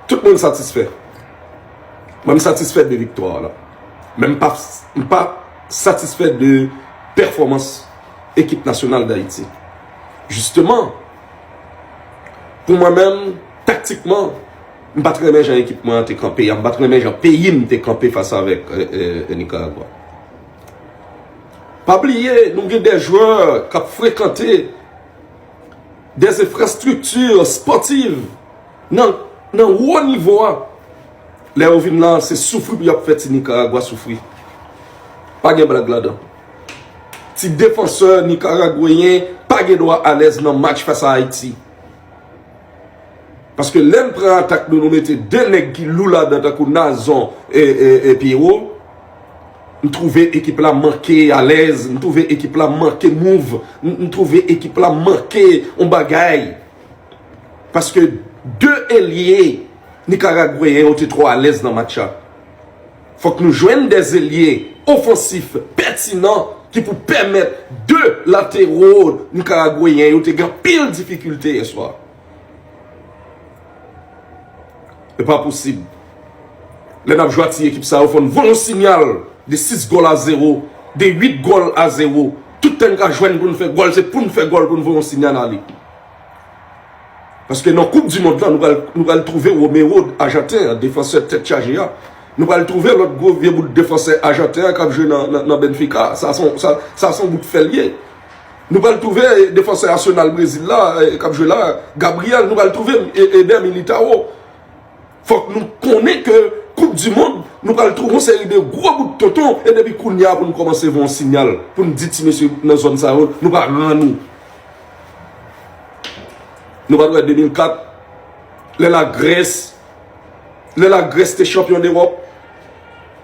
Tout moun satisfè. Mwen m satisfè de viktwa la. Men m pa satisfè de pèfòmans ekip nasyonal Dayiti. Jisteman, pou mwen menm, taktikman, m pa t renmen jan ekip mwen an te kanpe a. M pa t renmen jan peyi m te kanpe fas avèk Nikaragwa. Pa bliye, nou gen de jwè k ap frekante. Des infrastructures sportives nan wo nivo a. Lè yo vin la, se soufri pou y ap fè ti Nikaragwa soufri. Pa gen blag ladan. Ti defansè nikaragweyen pa gen dwa alèz nan match fas a Ayiti. Paske lè n pran atak nou, nou mete 2 nèg ki lou ladan tankou Nazon e Pierrot. M twouve ekip la manke alèz, m twouve ekip la manke mouv, m twouve ekip la manke yon bagay. Paske 2 elye Nikaragweyen yo te twò alèz nan match la. Fòk nou jwenn 2 elye ofansif pètinan ki pou pèmèt 2 latero Nikaragweyen yo te gen anpil difikilte yèswa. E pa posib. Lè n ap jwe ak ti ekip sa yo fò n voye yon sinyal de 6 gòl a 0, de 8 gòl a 0. Tout tan n ka jwenn pou n fè gòl, se pou n fè gòl pou n voye yon sinyal ale. Paske nan koup di mond lan, nou pral twouve Romero ajanten an, defansè tèt chaje a. Nou pral twouve lòt gwo vye bout defansè ajanten an k ap jwe nan Benfica. Sa son bout fè l ye. Nou pral twouve defansè Arsenal Brezil la k ap jwe la a, Gabriel, nou pral twouve Eder Militao. Fòk nou konnen ke koup di mond nou pral twouve yon seri de gwo bout tonton e depi kounye a pou nou kòmanse voye yon sinyal pou nou di ti mesye nan zòn sa yo nou pa ran nou. Nou pa t wè 2004 lè la Grèce lè la Grèce te chanpyon dewòp.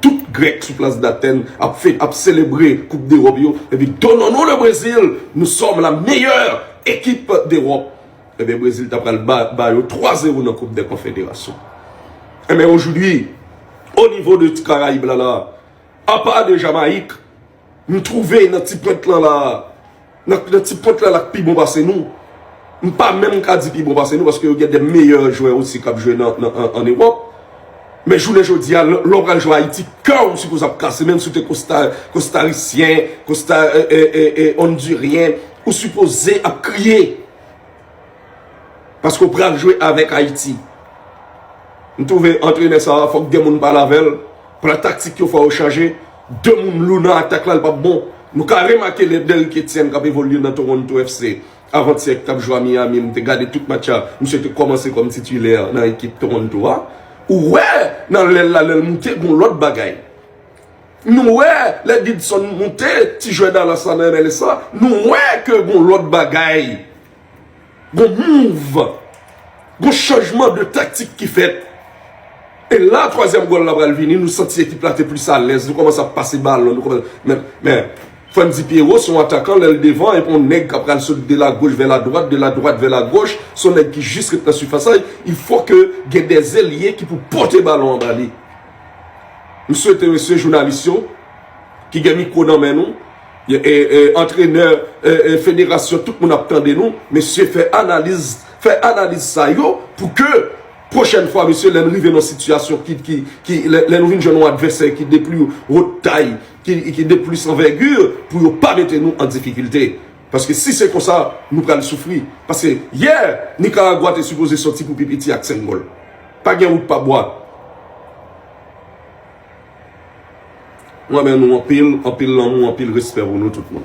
Tout grèk sou plas d'Athènes ap fête ap selebre koup d'Europe yo epi donnons nous le Brésil nous sommes la meilleure équipe d'Europe ebyen Brésil ta pral ba yo 3 zero nan koup dè konfederasyon ebyen aujourd'hui au niveau de ti Caraïbes la la apa de Jamaïque M twouve nan ti pwent lan la, nan ti pwent lan la k pi bon pase nou. M pa menm ka di pi bon pase nou paske yo gen de meyè jwè osi k ap jwe an Ewòp. Men jounen jodi a, lè w pral jwe Ayiti, kè w sipoze ap kase menm si w te Kostarisyen, Ondiryen, ou sipoze ap kriye. Paske ou pral jwe avèk Ayiti. M twouve antrenè sa a fòk 2 moun pale avè l. Plan taktik yo fò yo chanje. 2 moun lou nan atak la l pap bon. Nou ka remake lè Derrick Etienne k ap evolye nan Toronto FC avantyè ki t ap jwe a Miami m te gade tout match la misye te kòmanse kòm titilè nan ekip Toronto a. Ou wè nan lè l la lè l moute gon lòt bagay. Nou wè lè Didson moute ti jwè Dallas la nan MLS la, nou wè ke gon lòt bagay, gon mouv, gon chanjman de taktik ki fèt. E la twazyèm gòl la pral vini, nou santi ekip la te plis alèz, nou kòmanse ap pase balon, nou kòmanse, men, men, Frantzy Pierrot se yon atakan lè l devan, epi yon nèg kap pral sot de la goch vè la dwat, de la dwat vè la goch, se yon nèg ki jis ret nan sifas la, il fò ke gen dè elye ki pou pote balon anba li. M swete mesye jounalis yo ki gen mikwo nan men nou, antrenè, federasyon, tout moun ap tande nou, mesye fè analiz, fè analiz sa yo pou ke pwochèn fwa mesye lè n rive nan sitiyasyon ki, lè nou vin jwenn yon advèsè ki de pli wot tay, ki de plis anvègi, pou yo pa mete nou an difikilte. Paske si se konsa, nou pral soufri. Paske yè, Nikaragwa te sipoze sòti pou pi piti ak 5 gòl. Pa gen wout pa bwa. Mwen renmen nou anpil, anpil lanmou, anpil respè pou nou tout moun.